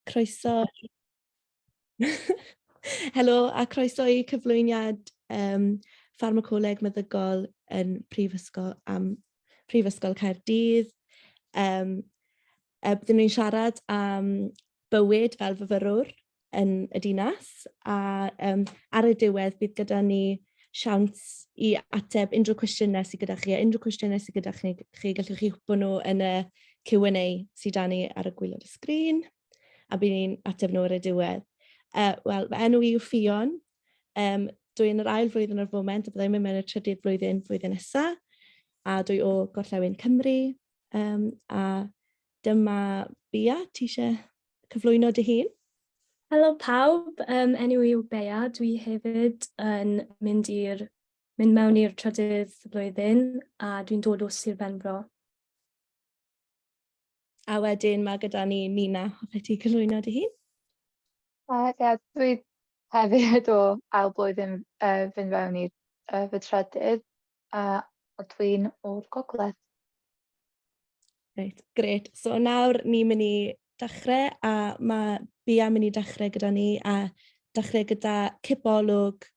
Croeso. Helo a croeso i cyflwyniad um, Ffarmacoleg Meddygol yn Prifysgol, am Prifysgol Caerdydd. Um, e, byddwn ni'n siarad am bywyd fel fyfyrwr yn y dinas a um, ar y diwedd bydd gyda ni siawns i ateb unrhyw cwestiynau sydd gyda chi, a unrhyw cwestiynau sydd gyda chi, chi gallwch chi hwpo nhw yn y Q&A sydd dan ni ar y gwylod y sgrin, a bydd ni'n ateb nhw ar y diwedd. Uh, Wel, fy enw i yw Ffion, um, dwi yn yr ail flwyddyn o'r foment, a byddai'n mynd mewn y trydydd flwyddyn flwyddyn nesaf, a dwi o Gorllewin Cymru, um, a Dyma Bia, ti eisiau cyflwyno dy hun? Helo pawb, um, enw i yw Bea, dwi hefyd yn mynd, i'r, mynd mewn i'r trydydd flwyddyn a dwi'n dod o Sir Benfro. A wedyn mae gyda ni Mina, hoffet ti cyflwyno dy hun? Uh, ia, yeah, dwi hefyd o ail blwyddyn uh, fynd fewn i uh, fy trydydd. a ydw i'n o'r gogledd. Reit, gret. So nawr ni'n mynd i dechrau a mae Bia mynd i dechrau gyda ni a dechrau gyda cipolwg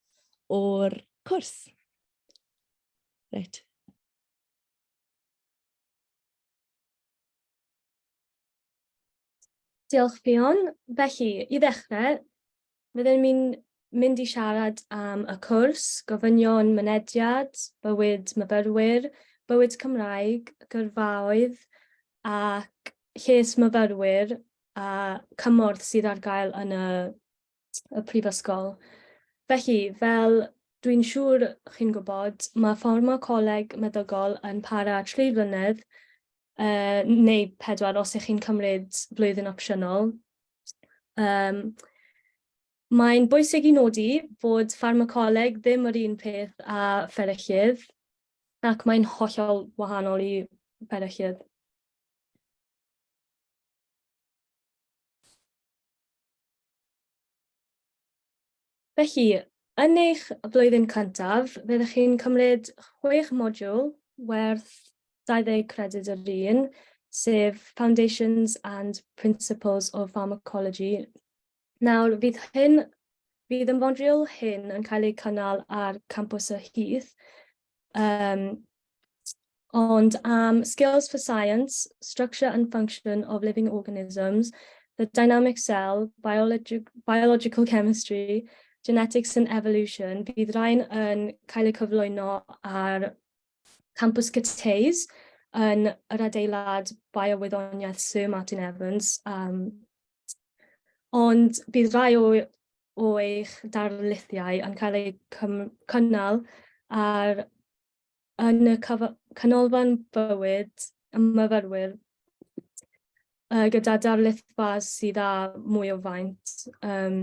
o'r cwrs. Reit, Diolch, Ffion. Felly, i ddechrau, Byddem ni'n mynd i siarad am y cwrs, gofynion mynediad, bywyd myfyrwyr, bywyd Cymraeg, gyrfaoedd ac lles myfyrwyr a cymorth sydd ar gael yn y, y prifysgol. Felly, fel dwi'n siŵr chi'n gwybod, mae fforma coleg meddygol yn para tri flynedd, uh, neu pedwar os ych chi'n cymryd blwyddyn opsiynol. Um, Mae'n bwysig i nodi bod ffarmacoleg ddim yr un peth â fferyllydd, ac mae'n hollol wahanol i fferyllydd. Felly, yn eich blwyddyn cyntaf, fyddwch chi'n cymryd chwech modiwl werth 20 credyd yr un, sef Foundations and Principles of Pharmacology. Nawr, fydd hyn Bydd y modiwl hyn yn cael eu cynnal ar campws y Heath, Um, ond am Skills for Science, Structure and Function of Living Organisms, the Dynamic Cell, Biologic, Biological Chemistry, Genetics and Evolution, bydd rhain yn cael eu cyflwyno ar Campus Cyteis yn yr adeilad Biowyddoniaeth Sir Martin Evans. Um, ond bydd rhai o o eich darlithiau yn cael eu cynnal ar yn y Canolfan Bywyd y Myfyrwyr uh, gyda darlithfa sydd â mwy o faint. Um,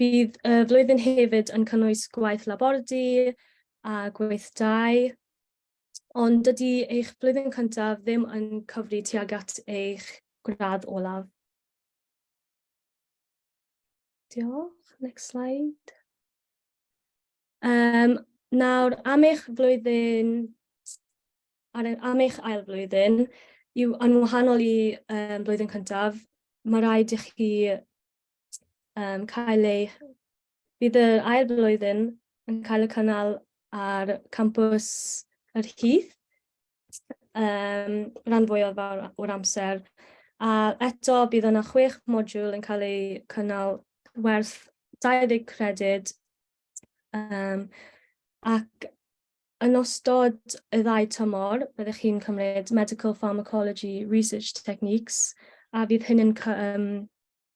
bydd y uh, flwyddyn hefyd yn cynnwys gwaith labordy a gweithdai, ond dydy eich flwyddyn cyntaf ddim yn cyfri tuag at eich gradd olaf. Diolch. Next slide. Um, nawr, am eich flwyddyn, ar, am eich ail flwyddyn, yw yn wahanol i um, blwyddyn cyntaf, mae rhaid i chi um, cael ei Bydd yr ail flwyddyn yn cael y cynnal ar campws yr Hyth, um, rhan fwyaf o'r amser. A eto, bydd yna chwech modiwl yn cael eu cynnal werth 20 credyd um, ac yn ystod y ddau tymor, byddwch chi'n cymryd Medical Pharmacology Research Techniques a fydd hyn yn um,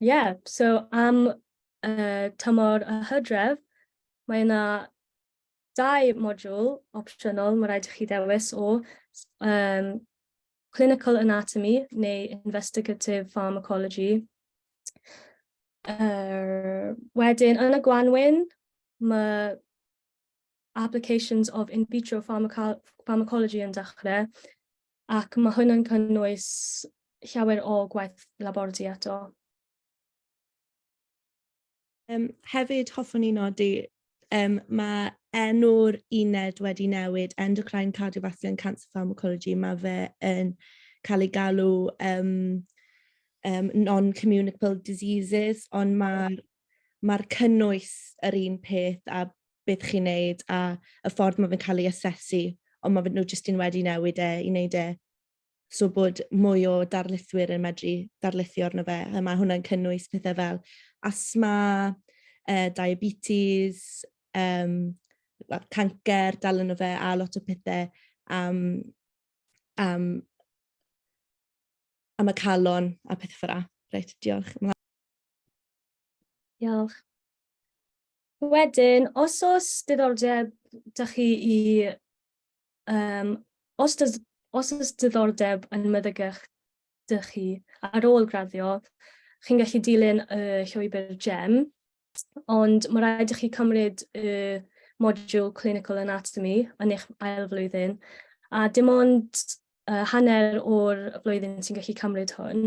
Yeah, so am uh, tymor y hydref, mae yna dau modiwl opsiynol mae rhaid i chi ddewis o um, clinical anatomy neu investigative pharmacology. Uh, wedyn, yn y gwanwyn, mae applications of in vitro pharmacology yn dechrau. ac mae hwn yn cynnwys llawer o gwaith labordy eto. Um, hefyd, hoffwn i nodi, um, mae enw'r uned wedi newid, Endocrine Cardiovascular and Cancer Pharmacology, mae fe yn cael ei galw um, um, non-communicable diseases, ond mae'r ma'r cynnwys yr un peth a beth chi'n neud a y ffordd mae fe'n cael ei asesu, ond mae nhw jyst yn wedi newid e i wneud e so bod mwy o darlithwyr yn medru darlithio arno fe. A mae hwnna'n cynnwys pethau fel asma, uh, diabetes, um, well, cancer, dal yn o fe, a lot o pethau am, am, am y calon a pethau ffyrra. Reit, diolch. Diolch. Wedyn, os oes diddordeb da chi i... Um, os, does, os oes diddordeb yn meddygach da chi ar ôl graddio, chi'n gallu dilyn y llwybr GEM, ond mae rhaid i chi cymryd y modiwl Clinical Anatomy yn eich ail flwyddyn, a dim ond uh, hanner o'r flwyddyn sy'n gallu cymryd hwn.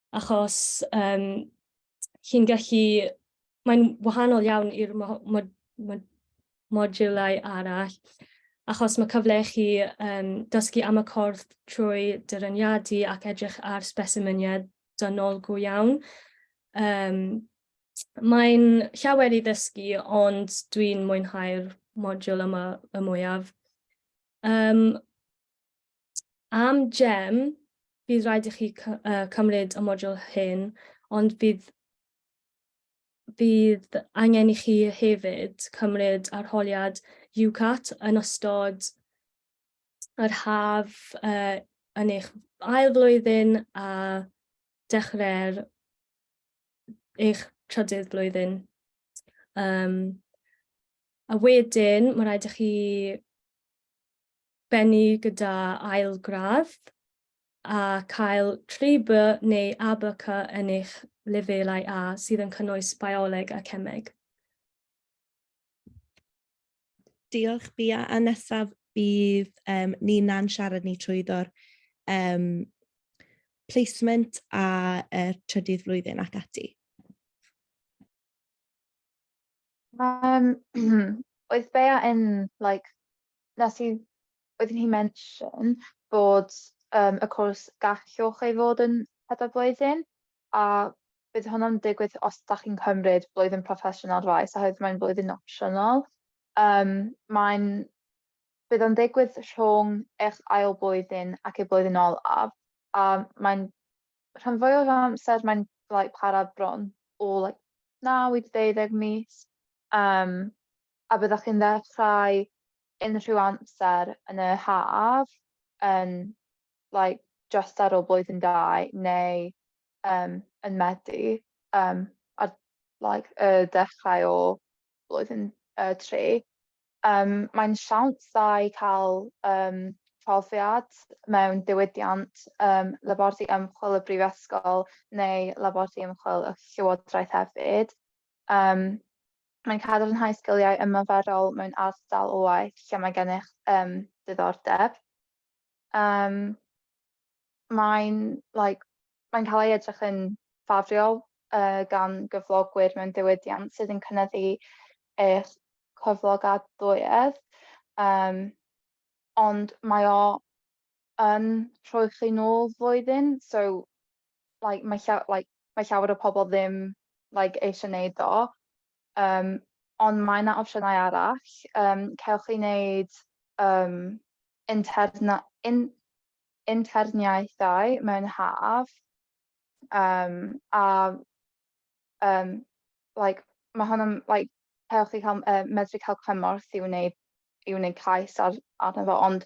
achos um, chi'n gallu, mae'n wahanol iawn i'r modiwlau arall, achos mae cyfle i chi um, dysgu am y cordd trwy dyraniadu ac edrych ar spesimeniau dynol go iawn. Um, mae'n llawer i ddysgu, ond dwi'n mwynhau'r modiwl yma y mwyaf. Um, Am gem, bydd rhaid i chi cymryd y modiwl hyn, ond bydd, bydd angen i chi hefyd cymryd arholiad UCAT yn ystod yr haf uh, yn eich ail flwyddyn a dechrau'r eich trydydd flwyddyn. Um, a wedyn, mae rhaid i chi bennu gyda ail gradd a cael 3B neu ABC yn eich lefelau A sydd yn cynnwys Bioleg a Cemeg. Diolch Bia, a nesaf bydd um, Nina'n siarad ni trwyddo'r um, placement a uh, trydydd flwyddyn ac ati. Um, oedd Bea yn like, nes i, oeddwn i'n mention bod um, y cwrs gallwch ei fod yn pedair blwyddyn, a bydd hwnna'n digwydd os da chi'n cymryd blwyddyn proffesiynol faes, oherwydd mae'n blwyddyn opsiynol. Um, mae'n bydd o'n digwydd rhwng eich ail blwyddyn ac ei blwyddyn olaf, a mae'n rhan fwy o'r amser mae'n like, para bron o like, 9 i 12 mis. Um, a byddwch chi'n ddechrau unrhyw amser yn y haf, yn like just ar ôl blwyddyn dau neu um, yn Medi um, ar like, y dechrau o blwyddyn uh, tri. Um, mae'n siawns dda i cael um, profiad mewn diwydiant um, labordy ymchwil y brifysgol neu labordy ymchwil y llywodraeth hefyd. Um, Mae'n cadarnhau sgiliau ymarferol mewn ardal o waith lle mae gennych um, diddordeb. Um, mae'n like, mae cael ei edrych yn ffafriol uh, gan gyflogwyr mewn diwydiant sydd yn cynnyddu eich cyflogadwyedd. Um, ond mae o yn rhoi chi nôl flwyddyn, so like mae llaw- like mae llawer o pobol ddim like eisiau neud o yym ond mae 'na opsiynau arall yym cewch chi neud yym interna- in- interniaethau mewn haf yym a Um, like, mae hwn yn, like, helpu chi cael, uh, medru cael cymorth i wneud, i wneud cais ar, arno fo, ond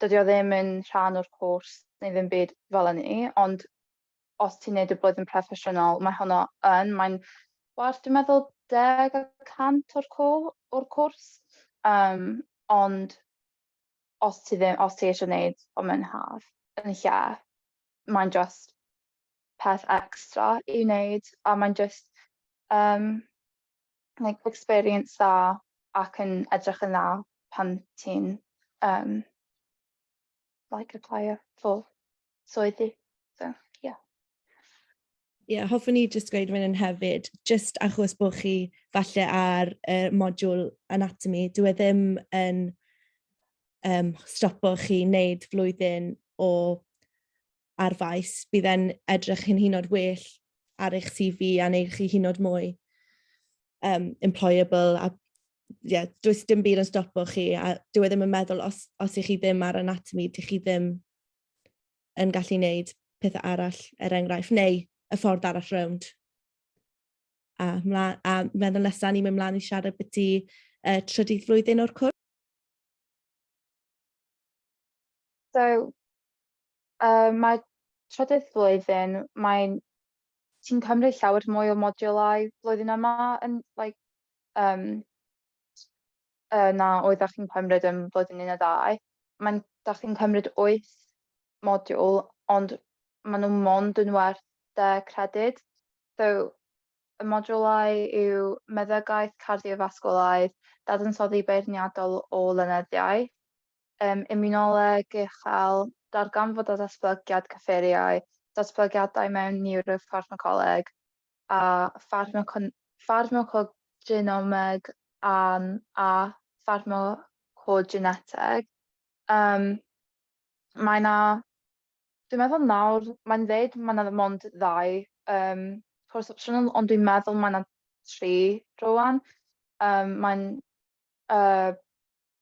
dydy o ddim yn rhan o'r cwrs neu ddim byd fel yny, ond os ti'n neud y blwyddyn proffesiynol, mae honno yn, mae'n werth, dwi'n meddwl, deg y cant o'r, o'r cwrs, um, ond os ti ddim, os ti eisiau gwneud o mewn haf, yn lle, mae'n just peth extra i wneud a mae'n jyst um, like, experience dda ac yn edrych yn dda pan ti'n um, like apply for swyddi. So, yeah. Ie, yeah, hoffwn i jyst gweud fan hefyd, jyst achos bod chi falle ar y uh, modiwl anatomy, dwi e ddim yn um, stopo chi wneud flwyddyn o ar faes, bydd e'n edrych yn hynod well ar eich CV a neu chi hynod mwy um, employable a yeah, does dim byd yn stopo chi a dwi e ddim yn meddwl os, os ych chi ddim ar anatomy, dych chi ddim yn gallu wneud pethau arall er enghraifft, neu y ffordd arall rownd. A, mla, a meddwl nesaf ni'n mynd mlaen i siarad beth i uh, trydydd flwyddyn o'r cwrs. So, Uh, mae trydydd flwyddyn, mae'n ti'n cymryd llawer mwy o modiwlau flwyddyn yma yn like, um, uh, na oedd â chi'n cymryd yn flwyddyn un a dau. Mae'n da chi'n cymryd wyth modiwl, ond maen nhw mond yn werth de credyd. So, y modiwlau yw meddygaeth, cardiofasgwlaidd, dadansoddi beirniadol o lenyddiaeth, Ym Immunoleg uchel, darganfod a datblygiad cyffuriau, datblygiadau mewn niwroffarmacoleg a ffarmacogenomeg a ffarmacogeneteg. Yym, mae 'na... dwi'n meddwl nawr, mae'n dweud mae 'na mond ddau yym cwrs opsiynol, ond dwi'n meddwl mae 'na tri rŵan. Yym mae'n yy...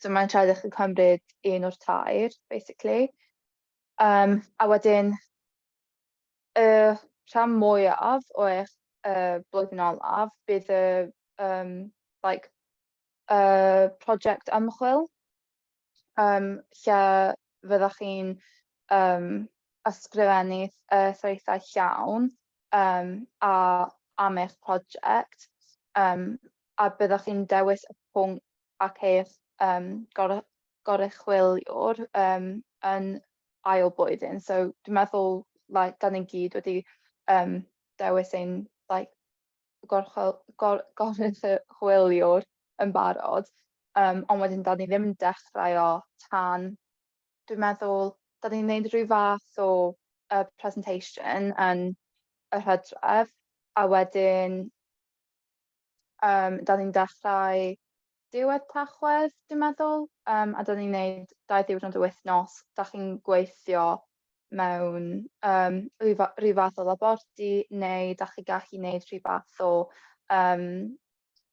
So mae'n rhaid i chi cymryd un o'r tair, basically. Um, a wedyn, y uh, rhan mwyaf o eich uh, blwyddyn olaf bydd y um, like, uh, prosiect ymchwil um, lle fyddwch chi'n um, ysgrifennu uh, threithau llawn um, a am eich prosiect um, a byddwch chi'n dewis y pwnc ac eich um, gor goruchwyliwr um, yn ail blwyddyn. So dwi'n meddwl, like, da ni'n gyd wedi um, dewis ein like, goruchwyliwr yn barod, um, ond wedyn da ni ddim yn dechrau o tan, dwi'n meddwl, da ni'n gwneud rhyw fath o uh, presentation yn y hydref, a wedyn Um, da ni'n dechrau diwedd tachwedd, dwi'n meddwl, um, a da ni'n neud dau ddiwrnod o wythnos. Da chi'n gweithio mewn um, rhyw fath o labordy neu da chi gallu neud rhyw fath o um,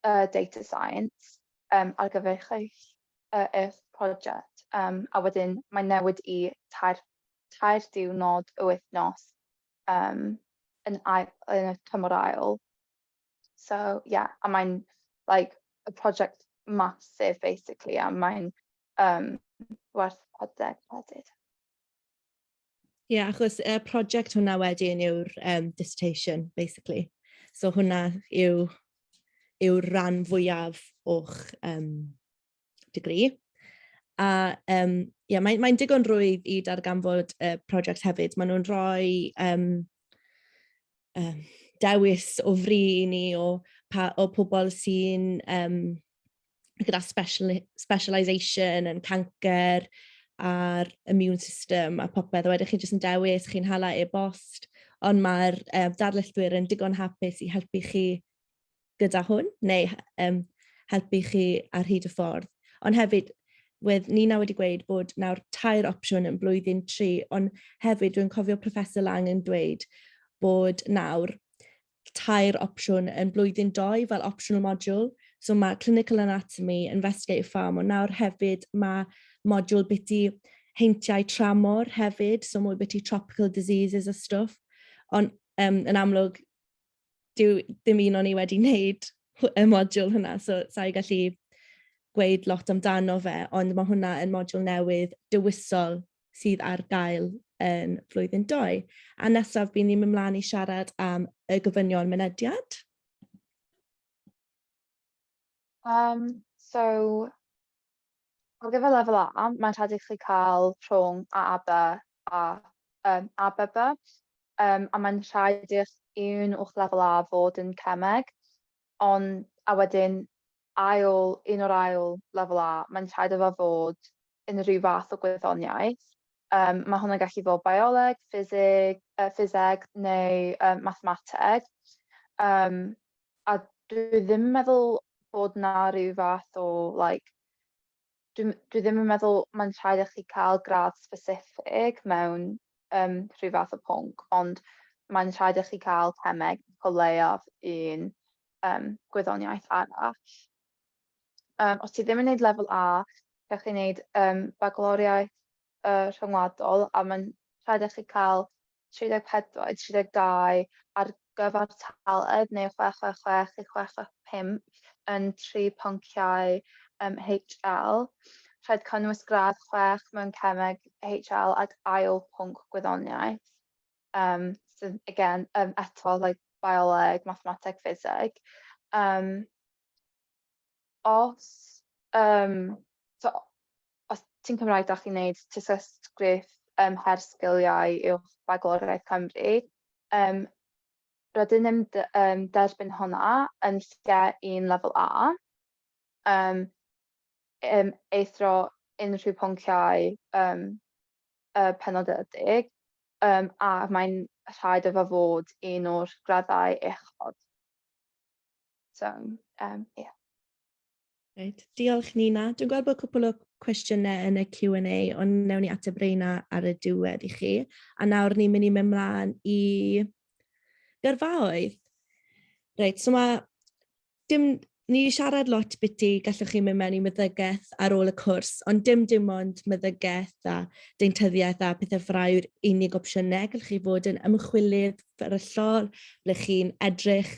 uh, data science um, ar gyfer eich, uh, eich prosiect. Um, a wedyn mae'n newid i tair, tair diwrnod o wythnos um, yn, ail, yn y tymor ail. So yeah, a mae'n like a project massive basically a mae'n um, werth 40 credyd. Ie, yeah, achos y uh, project hwnna wedyn yw'r um, dissertation, basically. So hwnna yw, yw ran fwyaf o'ch um, degree. A um, yeah, mae'n mae digon rwydd i darganfod y uh, prosiect hefyd. Maen nhw'n rhoi um, um, dewis o fri i ni o, pa, o pobl sy'n um, gyda special, specialisation yn cancer a'r immune system a popeth. A wedyn chi jyst yn dewis, chi'n hala e-bost, ond mae'r uh, darlithwyr yn digon hapus i helpu chi gyda hwn neu um, helpu chi ar hyd y ffordd. Ond hefyd, wedd Nina wedi gweud bod nawr tair opsiwn yn blwyddyn tri, ond hefyd dwi'n cofio Professor Lang yn dweud bod nawr tair opsiwn yn blwyddyn doi fel optional module. So mae clinical anatomy, investigative farm, ond nawr hefyd mae module biti heintiau tramor hefyd, so mwy biti tropical diseases a stwff. Ond um, yn amlwg, Dyw dim un o'n i wedi wneud y modiwl hwnna, so sa'i gallu gweud lot amdano fe, ond mae hwnna yn modiwl newydd dewisol sydd ar gael yn flwyddyn 2. A nesaf, bydd ni'n mynd mlaen i siarad am y gofynion mynediad. Um, so, Ar gyfer lefel A, mae'n rhaid i chi cael rhwng A a B a um, A, B, B, um, a mae'n rhaid i'ch un o'ch lefel A fod yn cemeg, ond a wedyn ail, un o'r ail lefel A, mae'n rhaid efo fod yn rhyw fath o gwyddoniaeth. Um, mae hwnna'n gallu bod bioleg, ffiseg, uh, ffiseg neu um, mathemateg. Um, a dwi ddim yn meddwl bod na rhyw fath o, like, dwi, dwi ddim yn meddwl mae'n rhaid i chi cael gradd specific mewn um, rhyw fath o pwnc, ond mae'n rhaid i chi cael cemeg o leiaf un um, gwyddoniaeth arall. Um, os ti ddim yn gwneud lefel A, gallwch chi wneud um, bagloriaeth uh, rhyngwladol a mae'n rhaid i chi cael 34, 32 ar gyfer taled neu 666 i 665 yn tri ponciau um, HL. Rhaid cynnwys gradd 6 mewn cemeg HL ac ail pwnc gwyddoniaeth. um, sydd, again, um, eto, like, bioleg, mathemateg, ffiseg. Um, os, um, so, os ti'n Cymraeg, da chi'n neud tysysgrif um, her sgiliau uwch Bagloriaeth Cymru, um, rydyn ni'n um, derbyn hwnna yn lle un lefel A, um, um, eithro unrhyw pwnciau um, y penodedig, um, a mae'n rhaid efo fod un o'r graddau uchod. So, um, yeah. Right. Diolch Nina. Dwi'n gweld bod cwpl o cwestiynau yn y Q&A, ond newn ni ateb reina ar y diwedd i chi. A nawr ni'n mynd i mynd mlaen i gyrfaoedd. Reit, so mae Dim, ni wedi siarad lot biti, gallwch chi mynd mewn i meddygaeth ar ôl y cwrs, ond dim dim ond meddygaeth a deintyddiaeth a pethau ffrau yw'r unig opsiynau. Gallwch chi fod yn ymchwilydd fferyllol, ble chi'n edrych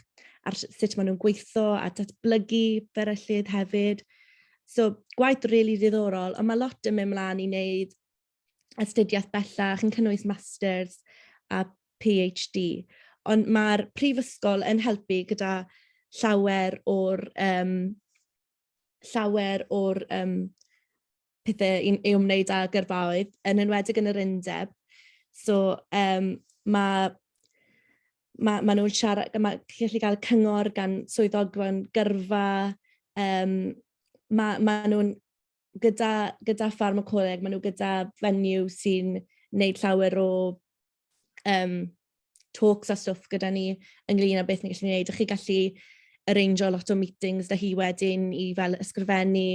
ar sut maen nhw'n gweithio a datblygu fferyllydd hefyd. So, gwaith rili really ddiddorol, ond mae lot yn mynd mlaen i wneud astudiaeth bellach yn cynnwys masters a PhD. Ond mae'r prifysgol yn helpu gyda llawer o'r um, llawer o'r um, pethau i, i wneud â gyrfaoedd, yn enwedig yn yr undeb. So um, mae mae, mae nhw'n siarad, mae gallu cael cyngor gan swyddogfan gyrfa, um, mae, mae nhw'n gyda, gyda pharmacoleg, maen nhw gyda venue sy'n wneud llawer o um, talks a stwff gyda ni ynglyn â beth ni'n gallu gwneud. Ych chi gallu arrangeo lot o meetings da hi wedyn i fel ysgrifennu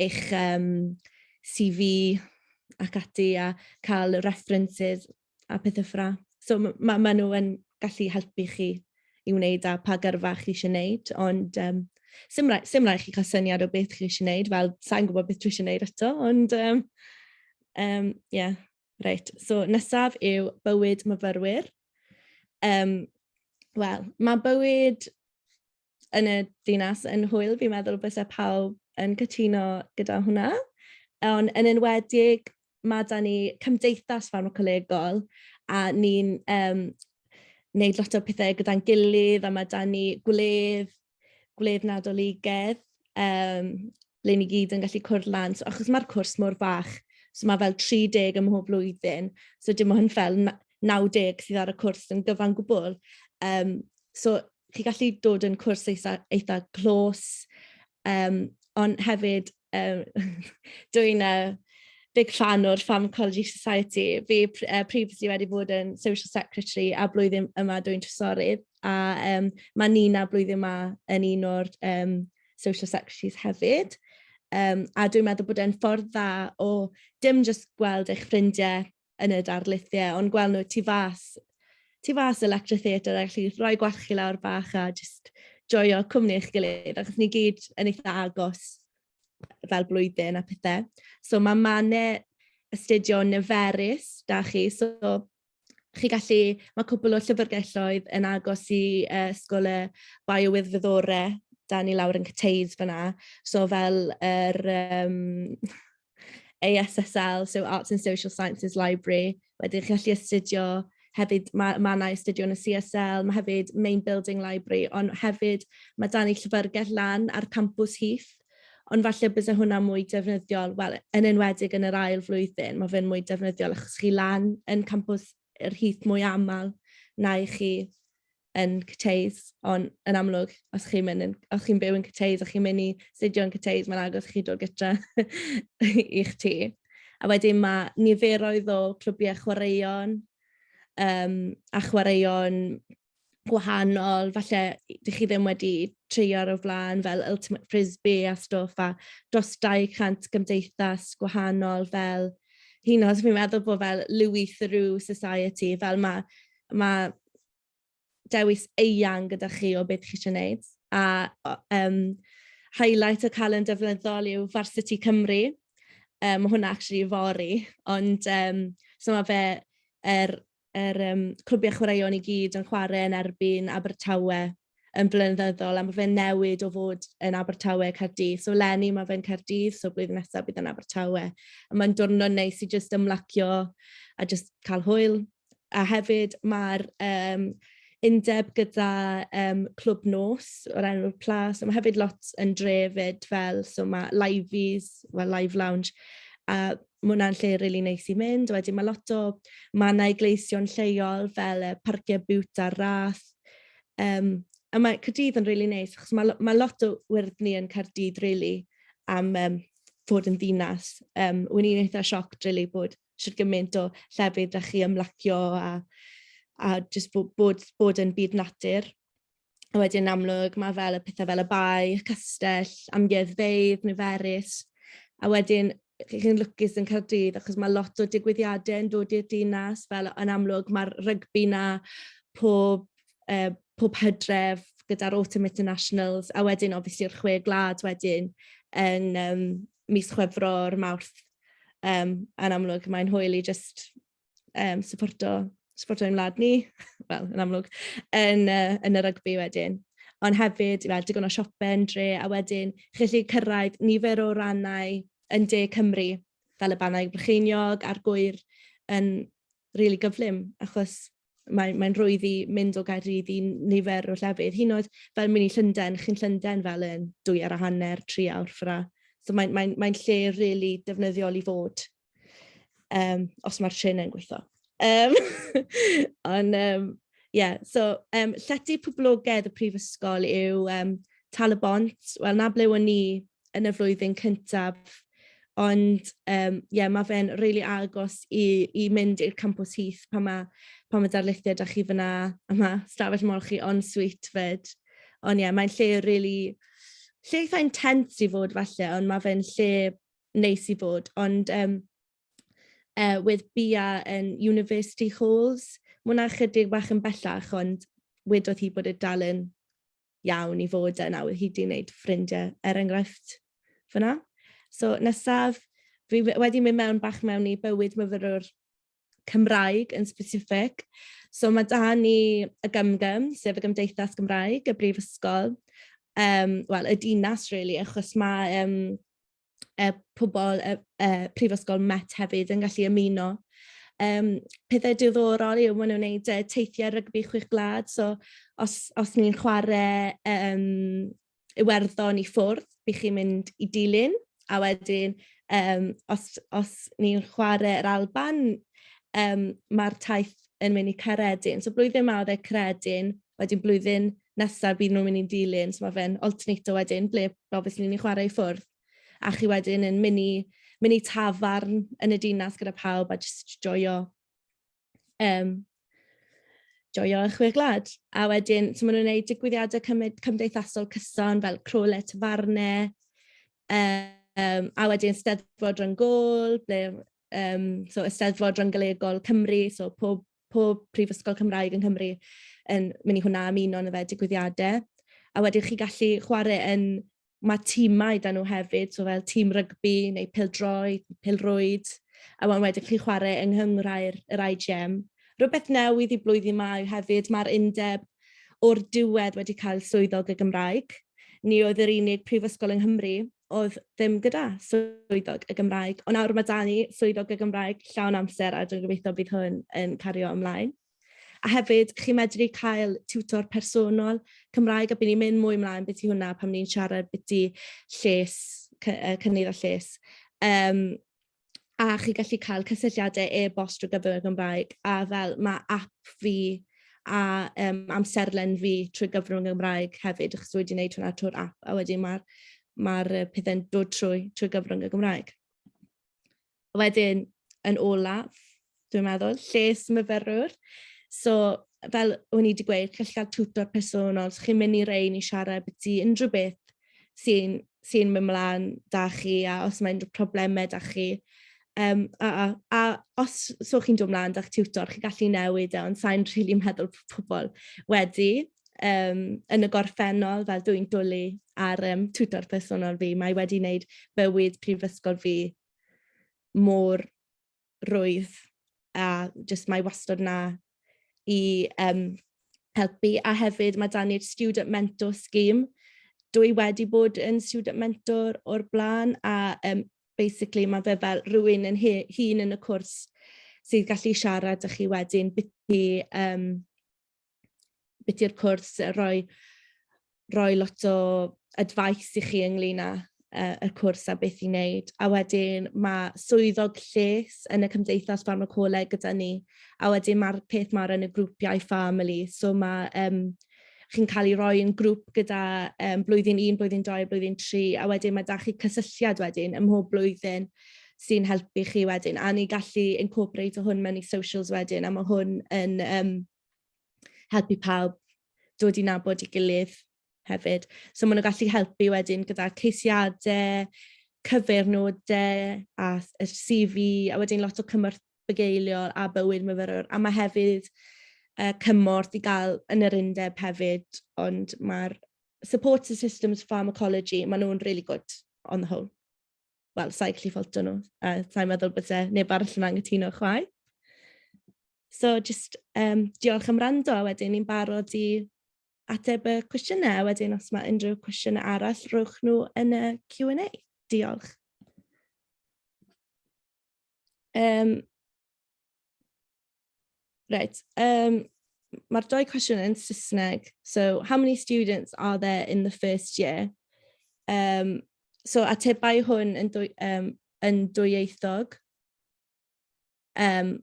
eich um, CV ac ati a cael references a pethau ffra. So mae ma, ma nhw yn gallu helpu chi i wneud a pa gyrfa chi eisiau wneud, ond um, sy'n rhaid, sim rhaid chi cael syniad o beth chi eisiau wneud, fel sa'n gwybod beth dwi eisiau wneud eto, ond ie. Um, um, yeah. Reit, so nesaf yw bywyd myfyrwyr. Um, Wel, mae bywyd yn y dinas yn hwyl, fi'n meddwl bys e pawb yn cytuno gyda hwnna. Ond yn enwedig, mae da ni cymdeithas farmacolegol a ni'n um, wneud lot o pethau gyda'n gilydd a mae da ni gwledd, gwledd nadoligedd um, le ni gyd yn gallu cwrdd lan. So, achos mae'r cwrs mor fach, so mae fel 30 ym mhob blwyddyn, so dim ond fel 90 sydd ar y cwrs yn gyfan gwbl. Um, so chi gallu dod yn cwrs eitha, eitha clos, um, ond hefyd um, dwi'n uh, big fan o'r Pharmacology Society. Fi uh, previously wedi bod yn Social Secretary a blwyddyn yma dwi'n trysorydd. A um, mae Nina blwyddyn yma yn un o'r um, social secretaries hefyd. Um, a dwi'n meddwl bod e'n ffordd dda o dim jyst gweld eich ffrindiau yn y darlithiau, ond gweld nhw tu fas, tu fas y Lecture Theatre, a gallu rhoi gwarchu lawr bach a jyst joio cwmni eich gilydd, achos ni gyd yn eitha agos fel blwyddyn a pethau. So mae Mane astudio niferus, da chi, so chi gallu, mae cwbl o llyfrgelloedd yn agos i uh, Ysgol y Biowyddfyddore, da ni lawr yn Cyteid fyna, so fel yr um, ASSL, so Arts and Social Sciences Library, wedyn chi gallu astudio hefyd mae, mae yna astudio yn y CSL, mae hefyd Main Building Library, ond hefyd mae dan ni llyfrgell lan ar campus Heath, Ond falle byse hwnna mwy defnyddiol, wel, yn enwedig yn yr ail flwyddyn, mae fe'n mwy defnyddiol achos chi lan yn campws yr hith mwy aml na i chi yn Cyteis, ond yn amlwg, os chi'n mynd yn, os chi'n byw yn Cyteis a chi'n mynd i studio yn Cyteis, mae'n agos chi dod gytra i'ch ti. A wedyn mae niferoedd o clwbiau chwaraeon um, a chwaraeon gwahanol, falle dych chi ddim wedi treio ar y flaen fel Ultimate Frisbee a stwff a dros 200 gymdeithas gwahanol fel hyn os fi'n meddwl bod fel Louis Theroux Society, fel mae ma dewis eang gyda chi o beth chi eisiau gwneud. A um, highlight y calen defnyddol yw Varsity Cymru. Um, mae hwnna actually fori, ond um, so mae fe er yr um, clwbiau chwaraeon i gyd yn chwarae yn erbyn Abertawe yn blynyddol, a mae fe'n newid o fod yn Abertawe Cardydd. So Lenny, mae fe'n Cardydd, so blwyddyn nesaf bydd yn Abertawe. A mae'n dwrnod neis i jyst ymlacio a jyst cael hwyl. A hefyd mae'r um, undeb gyda um, clwb nos o'r enw'r plas. Mae hefyd lot yn drefyd fel, so mae Liveys, well, Live Lounge, a ma' hwnna'n lle rili neis i mynd. Wedyn ma' lot o mannau gleisio'n lleol fel y Parciau Bute a'r Rath. Um, a mae Caerdydd yn rili neis, achos mae, mae lot o wyrddni yn Caerdydd rili am um, fod yn ddinas. Um, Wy'n i'n eitha sioc rili bod sydd gymaint o llefydd da chi ymlacio a, a just bod, bod, bod yn byd natur. A wedyn amlwg mae fel y pethau fel y bae, y castell, amgueddfeydd, niferus. A wedyn chi'n lwcus yn Cardydd achos mae lot o digwyddiadau yn dod i'r dinas fel yn amlwg mae'r rygbi na pob, uh, pob hydref gyda'r Autumn Internationals a wedyn obviously yr chwe glad wedyn yn um, mis chwefro'r mawrth um, yn amlwg mae'n hwyl i just um, supporto, supporto ein wlad ni, wel, yn amlwg, yn, uh, yn y rygbi wedyn. Ond hefyd, fel digon o siope yn dre, a wedyn chi'n gallu cyrraedd nifer o rannau yn de Cymru, fel y bannau brycheiniog a'r gwyr yn rili really gyflym, achos mae'n mae rwydd i mynd o Gaerdydd i nifer o llefydd. Hyn oedd fel mynd i Llundain, chi'n Llundain fel yn dwy ar a hanner, tri awr ffra. So mae'n mae, mae lle rili really defnyddiol i fod Um, os mae'r trên yn gweithio. Um, ond, um, yeah, so, um, llety poblogaidd y prifysgol yw um, Tal y Bont. Wel, na ble o'n ni yn y flwyddyn cyntaf. Ond, um, yeah, mae fe'n rili really agos i, i mynd i'r campus hith pan mae, pan mae darlithiau da chi fyna, a mae stafell mor chi on sweet fyd. Ond ie, yeah, mae'n lle rili... Really, lle eitha intense i fod falle, ond mae fe'n lle neis i fod, ond um, uh, with Bia yn University Halls, mae hwnna chydig bach yn bellach, ond wedodd hi bod y dal yn iawn i fod yna, oedd hi wedi gwneud ffrindiau er enghraifft fyna. So nesaf, fi wedi mynd mewn bach mewn i bywyd myfyrwr Cymraeg yn specific. So mae da ni y Gymgym, sef y Gymdeithas Gymraeg, y Brifysgol, um, well, y dinas, really, achos mae um, y pobl y, y Prifysgol Met hefyd yn gallu ymuno. Um, pethau diddorol yw maen nhw'n gwneud uh, teithiau rygbi chwech glad, so os, os ni'n chwarae um, Iwerddon i ffwrdd, by chi'n mynd i dilyn, a wedyn um, os, os ni'n chwarae yr Alban, um, mae'r taith yn mynd i Caredin. So blwyddyn yma oedd e Caredin, wedyn blwyddyn nesaf bydd nhw'n mynd i dilyn, so mae fe'n alternato wedyn, ble obviously ni'n chwarae i ffwrdd. A chi wedyn yn mynd i, mynd i tafarn yn y dinas gyda pawb a just joio Um, joio yn chwe gwlad. A wedyn, so maen nhw'n gwneud digwyddiadau cymdeithasol cyson fel crole tafarne, um, a wedyn steddfod rhan gol, ble, um, so ysteddfod rhan galegol Cymru, so pob, pob prifysgol Cymraeg yn Cymru yn mynd i hwnna ymuno yn y fe digwyddiadau. A wedyn chi gallu chwarae yn mae tîmau da nhw hefyd, so fel tîm rygbi neu pildroed, pilrwyd, a wan wedyn chi'n chwarae yng nghynghrair yr IGM. Rhywbeth newydd i blwyddyn ma yw hefyd, mae'r undeb o'r diwedd wedi cael swyddog y Gymraeg. Ni oedd yr unig prifysgol yng Nghymru oedd ddim gyda swyddog y Gymraeg, ond nawr mae da ni swyddog y Gymraeg llawn amser a dwi'n gobeithio bydd hwn yn cario ymlaen. A hefyd, chi'n medru cael tiwtor personol Cymraeg a by' ni'n mynd mwy mlaen byti hwnna pan ni'n siarad biti lles cy- yy cynnydd a lles. Yym a chi gallu cael cysylltiade e-bost drwy gyfer y Gymraeg a fel ma' ap fi a yym amserlen fi trwy gyfer y Gymraeg hefyd achos wedi wneud hwnna trwy'r ap a wedyn ma'r ma'r yy pethe'n dod trwy trwy gyfrwng y Gymraeg. wedyn, yn olaf, dwi'n meddwl, lles myfyrwr. So, fel o'n i wedi gweud, chi'n gallu cael tutor personol, so chi'n mynd i rein i siarad byti unrhyw beth sy'n sy mynd mlaen da chi a os mae unrhyw problemau da chi. Um, a, a, a os so chi'n dod mlaen da'ch tutor, chi'n gallu newid e, ond sa'n rili really meddwl pobl wedi um, yn y gorffennol, fel dwi'n dwlu ar um, tutor personol fi, mae wedi wneud bywyd prifysgol fi mor rwydd a jyst mae wastad na i um, helpu. A hefyd mae dan ni'r Student Mentor Scheme. Dwi wedi bod yn Student Mentor o'r blaen a um, basically mae fe fel rhywun yn hun yn y cwrs sydd gallu siarad â chi wedyn beth i um, beth yw'r cwrs, rhoi, rhoi lot o advice i chi ynglyn â uh, y cwrs a beth i wneud. A wedyn mae swyddog lles yn y Cymdeithas Farmacoleg gyda ni. A wedyn mae'r peth mae'r yn y grwpiau family. So mae um, chi'n cael ei roi yn grŵp gyda um, blwyddyn 1, blwyddyn 2, blwyddyn 3, a wedyn mae da chi cysylltiad wedyn ym mhob blwyddyn sy'n helpu chi wedyn, a ni gallu incorporate o hwn mewn i socials wedyn, a mae hwn yn um, helpu pawb dod i nabod i gilydd hefyd. So maen nhw'n gallu helpu wedyn gyda ceisiadau, cyfeirnodau a y CV a wedyn lot o cymorth bygeiliol a bywyd myfyrwr. A mae hefyd uh, cymorth i gael yn yr undeb hefyd, ond mae'r support systems pharmacology, maen nhw'n really good on the whole. wel, sa'i gallu ffolto nhw, a sa'i'n meddwl bod e neb arall yn anghytuno chwaith. So, just um, diolch am rando, a wedyn ni'n barod i ateb y cwestiynau, a wedyn os mae unrhyw cwestiynau arall, rhowch nhw yn y Q&A. Diolch. Um, Right. Um, mae'r dau cwestiwn yn Saesneg. So, how many students are there in the first year? Um, so, atebai hwn yn, dwy, um, yn dwyieithog. Um,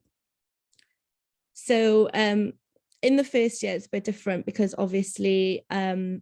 so, um, in the first year, it's a bit different because obviously um,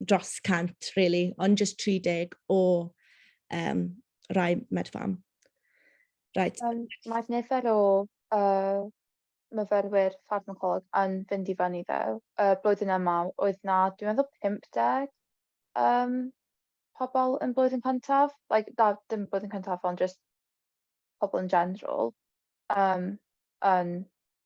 dros 100, really, ond just 30 o um, rai medfam. Right. Um, Mae'r nifer o uh, myfyrwyr ffarmacolog yn fynd i fyny ddo. Uh, blwyddyn yma oedd na, dwi'n meddwl 50 um, pobl yn blwyddyn cyntaf. Like, da, dim blwyddyn cyntaf, ond just pobl yn general. Um, yn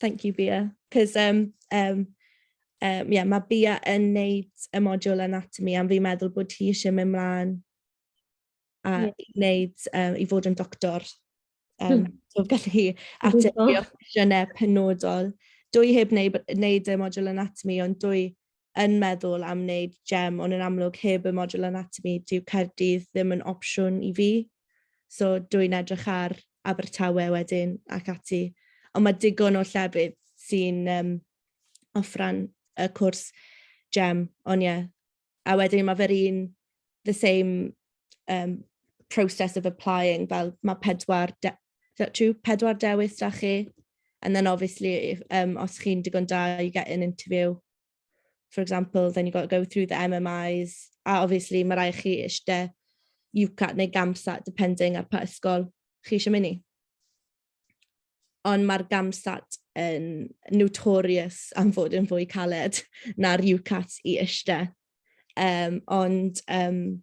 Thank you, Bia. Cos, um, um, um, yeah, mae Bia yn neud y modiwl anatomy am fi'n meddwl bod hi eisiau mynd mlaen a yeah. i wneud, um, i fod yn doctor. Um, hmm. so gallu hi ateb i opsiynau penodol. Dwy heb wneud, wneud y modiwl anatomy, ond dwy yn meddwl am wneud gem, ond yn amlwg heb y modiwl anatomi, dyw Caerdydd ddim yn opsiwn i fi. So dw i'n edrych ar Abertawe wedyn ac ati. Ond mae digon o llefydd sy'n um, offran y cwrs gem, ond ie. Yeah. A wedyn mae fe'r un, the same um, process of applying, fel mae pedwar Is that true? Pedwar dewis da chi. And then obviously, if, um, os chi'n digon da, you get an interview. For example, then you got to go through the MMIs. A obviously, mae rai chi eisiau UCAT neu GAMSAT, depending ar pa ysgol chi eisiau mynd i. Ond mae'r GAMSAT yn notorious am fod yn fwy caled na'r UCAT i eisiau. Um, ond um,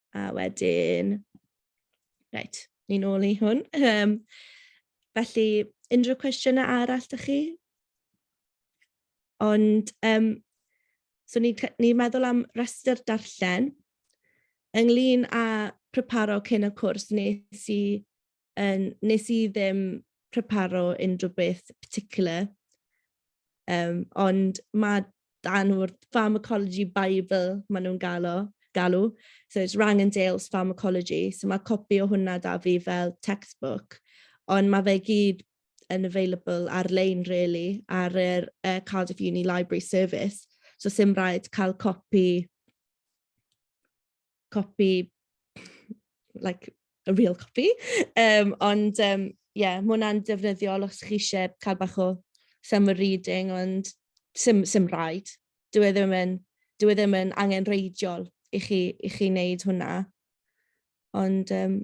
A wedyn, reit, ni'n ôl i hwn. Um, felly, unrhyw cwestiynau arall da chi? Ond, um, so ni'n ni meddwl am rhestr darllen ynglyn â preparo cyn y cwrs nes i Yn, nes i ddim preparo unrhyw beth particular, um, ond mae dan o'r pharmacology bible maen nhw'n galw, galw. So it's Rang and Dale's Pharmacology. So mae copi o hwnna da fi fel textbook. Ond mae fe gyd yn available ar-lein, really, ar yr uh, Cardiff Uni Library Service. So sy'n rhaid cael copi copi, like a real copi. Um, ond ie, um, yeah, mae hwnna'n defnyddiol os chi eisiau cael bach o summer reading, ond sim, sim rhaid. Dwi e ddim yn, dwi e ddim yn angen reidiol i chi, i chi wneud hwnna. Ond um,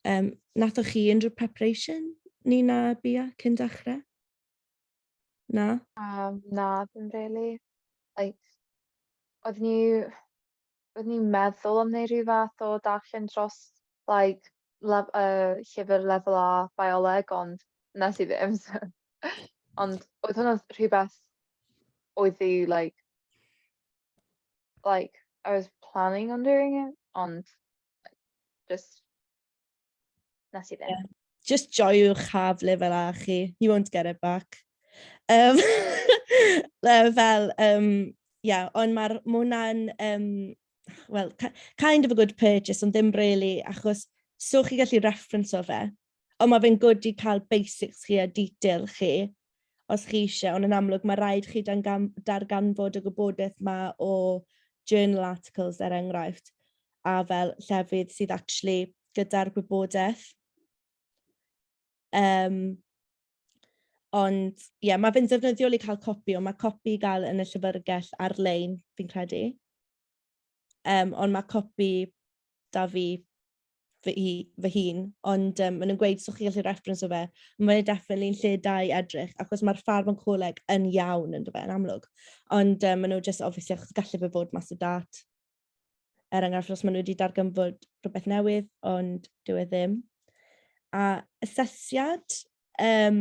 um, nathoch chi unrhyw preparation ni na bia cyn dechrau? Na? Um, na, ddim really. Like, oedd ni, Roedd ni'n meddwl am wneud rhyw fath o darllen dros like, lef, uh, llyfr lefel A bioleg, ond nes i ddim. ond oedd hwnna'n rhywbeth oedd i, like, like, I was planning on doing it, ond just Na ti ddim. Yeah. Just joiwch haf lefel a chi. You won't get it back. Um, fel, um, yeah, ond mae'r mwna'n, um, well, kind of a good purchase, ond ddim really, achos so chi gallu reference o fe. Ond mae fe'n good i cael basics chi a detail chi, os chi isie, ond yn amlwg ma' raid chi dangam- darganfod y gwybodaeth 'ma o journal articles er enghraifft a fel llefydd sydd actually gyda'r gwybodaeth. Um, Ond ie, yeah, mae fe'n ddefnyddiol i cael copi, ond mae copi i gael yn y llyfrgell ar-lein, fi'n credu. Um, ond mae copi da fi fy i fy hun ond yym ma' nw'n gweud so chi gallu reference o fe. Mae e definitely yn lle da i edrych achos ma'r ffarm yn coleg yn iawn on'd yfe yn amlwg. Ond yym ma' nw jyst obviously achos galle fe fod mas o dât. Er enghraifft os ma' nw wedi darganfod rwbeth newydd ond dyw e ddim. A asesiad yym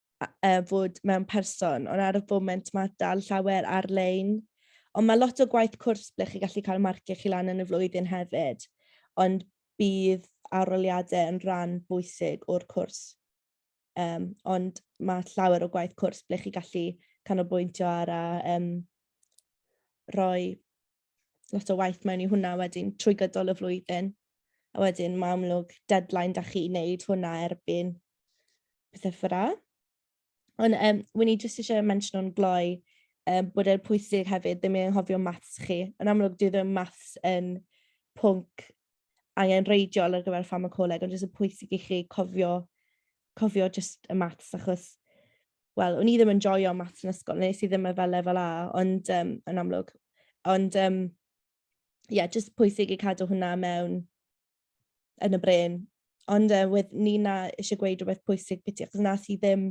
uh, fod mewn person, ond ar y foment mae dal llawer ar-lein. Ond mae lot o gwaith cwrs ble chi gallu cael marciau chi lan yn y flwyddyn hefyd, ond bydd aroliadau yn rhan bwysig o'r cwrs. Um, ond mae llawer o gwaith cwrs ble chi gallu canolbwyntio ar a um, rhoi lot o waith mewn i hwnna wedyn trwy gydol y flwyddyn. A wedyn mae amlwg deadline da chi wneud hwnna erbyn pethau ffyrra. Ond um, wy'n i jyst eisiau mention o'n gloi um, bod e'n pwysig hefyd ddim i anghofio maths chi. Yn amlwg, dwi ddim maths yn pwnc angen reidiol ar gyfer ffamacoleg, ond jyst y pwysig i chi cofio, cofio jyst y maths achos wel o'n i ddim yn joio maths yn ysgol nes i ddim e fel lefel A ond yym yn amlwg. Ond yym ie jyst pwysig i cadw hwnna mewn yn y bren. Ond yy wedd Nina eisiau gweud rhywbeth pwysig biti achos na i ddim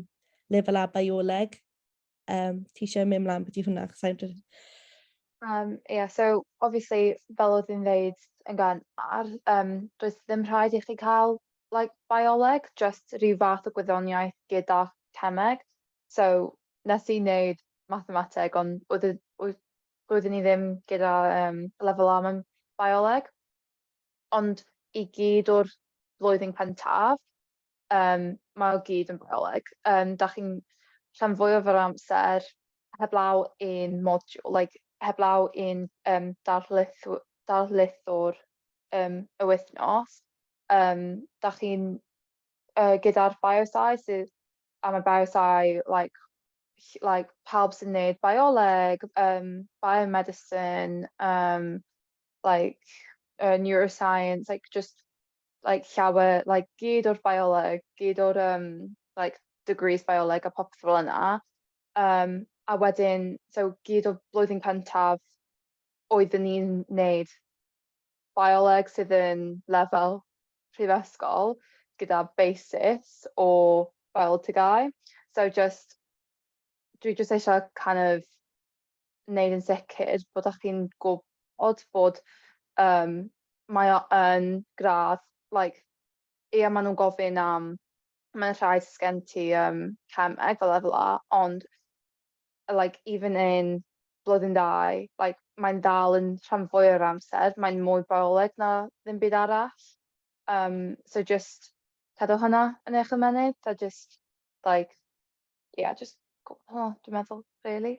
lefel A bioleg. Um, ti eisiau mynd mlaen beth i hwnna? Chos sa'n dweud... Um, yeah, so obviously, fel oedd yn dweud yn gan ar, um, does ddim rhaid i chi cael like bioleg jyst rhyw fath o gwyddoniaeth gyda cemeg so nes i neud mathemateg ond oedd e oedd roeddwn i ddim gyda um, lefel A mewn bioleg ond i gyd o'r flwyddyn cyntaf um, mae o gyd yn bioleg um, da chi'n rhan fwyaf o'r amser heblaw un modiwl like heblaw un um, darlith, darlithwr um, y wythnos um, da chi'n uh, gyda'r biosau sydd am y biosau like, like pawb sy'n neud bioleg, um, biomedicine, um, like uh, neuroscience, like just like llawer, like gyd o'r bioleg, gyd o'r um, like degrees bioleg a popeth fel yna. Um, a wedyn, so gyd o blwyddyn cyntaf oeddwn ni'n neud bioleg sydd yn lefel prifysgol gyda basis o biolegau. So just, dwi just eisiau kind of wneud yn sicr bod ych chi'n gwybod bod um, mae o yn gradd, like, ie, maen nhw'n gofyn am, mae'n rhaid sgen ti um, cemeg fel efo la, ond like, even in blwyddyn dau, like, mae'n dal yn rhan fwy o'r amser, mae'n mwy bioleg na ddim byd arall. Um, so just cadw hynna yn eich ymenydd, a just, like, yeah, just, oh, dwi'n meddwl, really.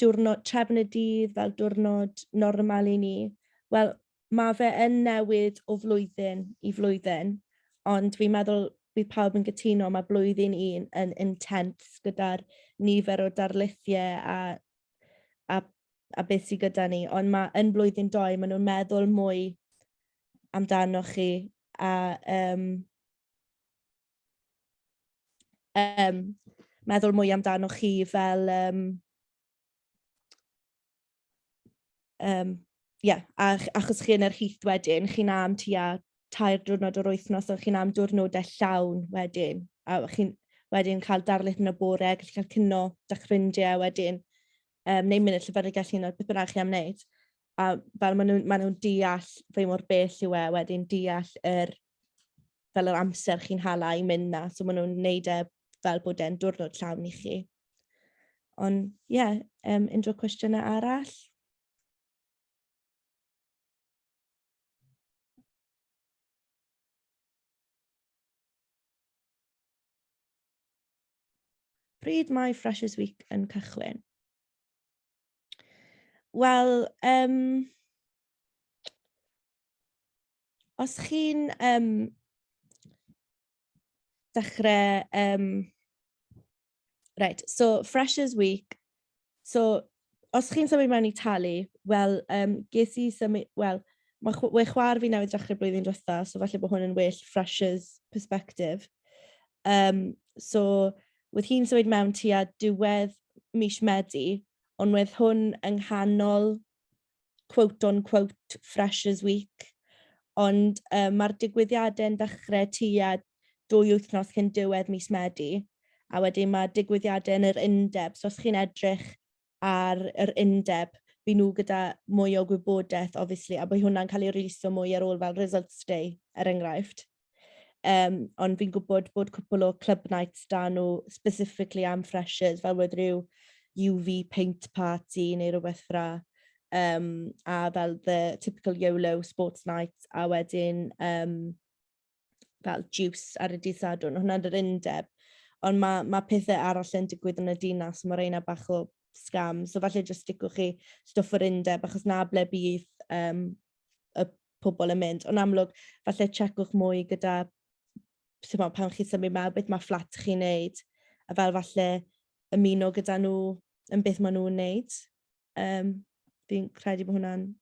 diwrnod trefn y dydd fel diwrnod normal i ni. Wel, mae fe yn newid o flwyddyn i flwyddyn, ond fi'n meddwl bydd pawb yn gytuno, mae blwyddyn un yn intense gyda'r nifer o darlithiau a, a, a beth sydd gyda ni, ond mae yn blwyddyn doi, maen nhw'n meddwl mwy amdanoch chi a um, um, meddwl mwy amdano chi fel... Um, um, yeah, a, achos chi yn yr hith wedyn, chi'n am tua tair diwrnod o'r wythnos, ond chi'n am diwrnodau llawn wedyn, a chi'n wedyn cael darlith yn y bore, gallu cael cyno, da'ch ffrindiau wedyn, um, neu mynd i'r llyfyrgell gallu yna, beth bynnag chi am wneud. A fel maen nhw'n ma nhw deall fe mor bell yw e wedyn, deall yr fel yr amser chi'n hala i mynd na, so maen nhw'n neud e fel bod e'n diwrnod llawn i chi. Ond ie, yeah, um, unrhyw cwestiynau arall? Pryd mae Freshers Week yn cychwyn? Wel, um, os chi'n um, dechrau... Um, right, so Freshers Week. So, os chi'n symud mewn i talu, wel, um, ges i symud... Wel, mae chw we chwar fi newydd dechrau blwyddyn drotha, so falle bod hwn yn well Freshers perspective. Um, so, wedd hi'n symud mewn tua diwedd mis Medi, ond wedd hwn yng nghanol quote on quote Freshers Week, ond um, mae'r digwyddiadau yn dechrau tua dwy wythnos cyn diwedd mis Medi, a wedyn mae digwyddiadau yn yr undeb, so os chi'n edrych ar yr undeb, fi nhw gyda mwy o gwybodaeth, obviously, a bod hwnna'n cael ei releasio mwy ar ôl fel Results Day, er enghraifft. Um, ond fi'n gwybod bod cwpl o club nights da nhw specifically am freshers fel oedd rhyw UV paint party neu rhywbeth fra. Um, a fel the typical YOLO sports night a wedyn um, fel juice ar y dydd sadwn. Hwna'n yr undeb. Ond mae, mae pethau arall yn digwydd yn y dinas, mae reina bach o scam. So falle jyst sticwch chi stwff yr undeb, achos na ble bydd um, y pobl yn mynd. Ond amlwg, falle checwch mwy gyda sut mae pan chi'n symud mewn, beth mae fflat chi'n neud, a fel falle ymuno gyda nhw yn beth maen nhw'n neud. Um, fi'n credu bod hwnna'n...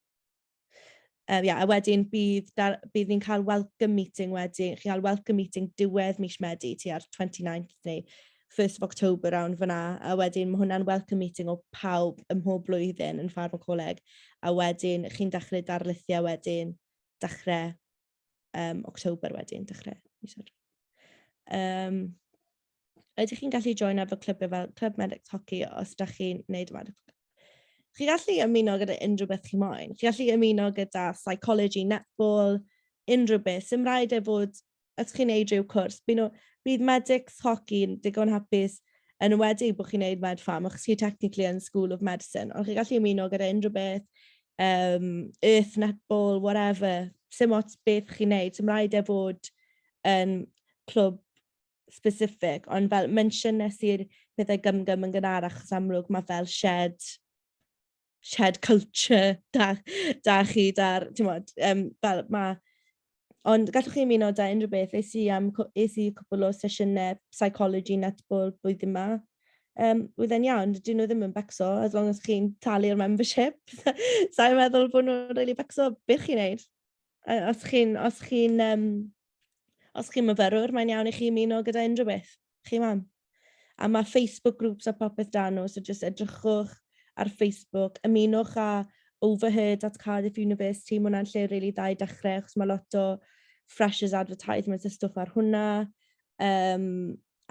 Um, yeah, a wedyn bydd, dar, bydd ni'n cael welcome meeting wedyn, chi'n cael welcome meeting diwedd mis Medi ti ar 29th neu first of October rownd fyn 'na a wedyn ma' hwnna'n welcome meeting o pawb ym mhob blwyddyn yn Ffarm y Coleg a wedyn chi'n dechre darlithio wedyn dechre um, October wedyn, dechre mis Hydref. Um, ydych chi'n gallu join ar fy clybiau fel Clwb Medic Hockey os da chi'n neud y medic Chi gallu ymuno gyda unrhyw beth chi moyn. Chi gallu ymuno gyda psychology, netball, unrhyw beth. Sym rhaid e fod os chi'n neud ryw cwrs by' n'w bydd medics hogi'n digon hapus yn enwedig bo' chi'n neud med pharm achos chi technically yn school of medicine ond chi gallu ymuno gyda unrhyw beth yym earth netball whatever sim ots beth chi'n neud sim raid e fod yn clwb specific ond fel mention nes i'r pethau gymgym yn gynharach achos amlwg ma' fel shed shared culture da, da chi, da'r, ti'n modd, um, fel mae... Ond gallwch chi ymuno da unrhyw beth. Eis i, am, eis i cwbl o sesiynau psychology netball blwyddyn yma. Um, oedd e'n iawn, dyn nhw ddim yn becso, as long as chi'n talu'r membership. Sa'n meddwl bod nhw'n really becso, beth chi'n neud? A os chi'n os chi'n um, os chi'n myfyrwr, mae'n iawn i chi ymuno gyda unrhyw beth. Chi mam. A mae Facebook groups a popeth dan nhw, so just edrychwch ar Facebook, ymunwch a Overheard at Cardiff University, mae hwnna'n lle rili really dda i dechrau, achos mae lot o freshers advertisements a stwff ar hwnna. Um,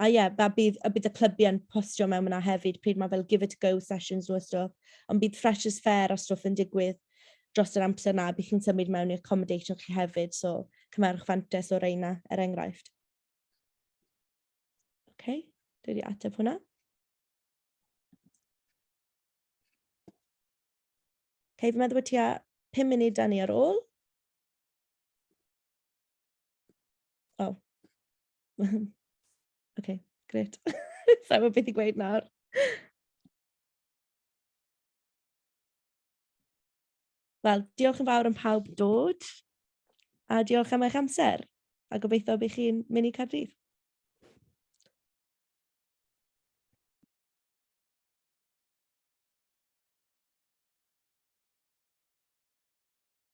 a ie, a bydd, a bydd y clybiau yn postio mewn yna hefyd pryd mae fel give it a go sessions nhw a stwff, ond bydd freshers fair a stwff yn digwydd dros yr amser na, bydd chi'n symud mewn i accommodation chi hefyd, so cymerwch fantes o reina, er enghraifft. Oce, okay, dwi wedi ateb hwnna. Hei, fi'n meddwl bod ti a 5 munud da ni ar ôl. O. Oh. Ocê, grêt. Sa i'n gwbod beth i gweud nawr. Wel, diolch yn fawr am pawb dod, a diolch am eich amser, a gobeithio bydd chi'n mynd i Caerdydd.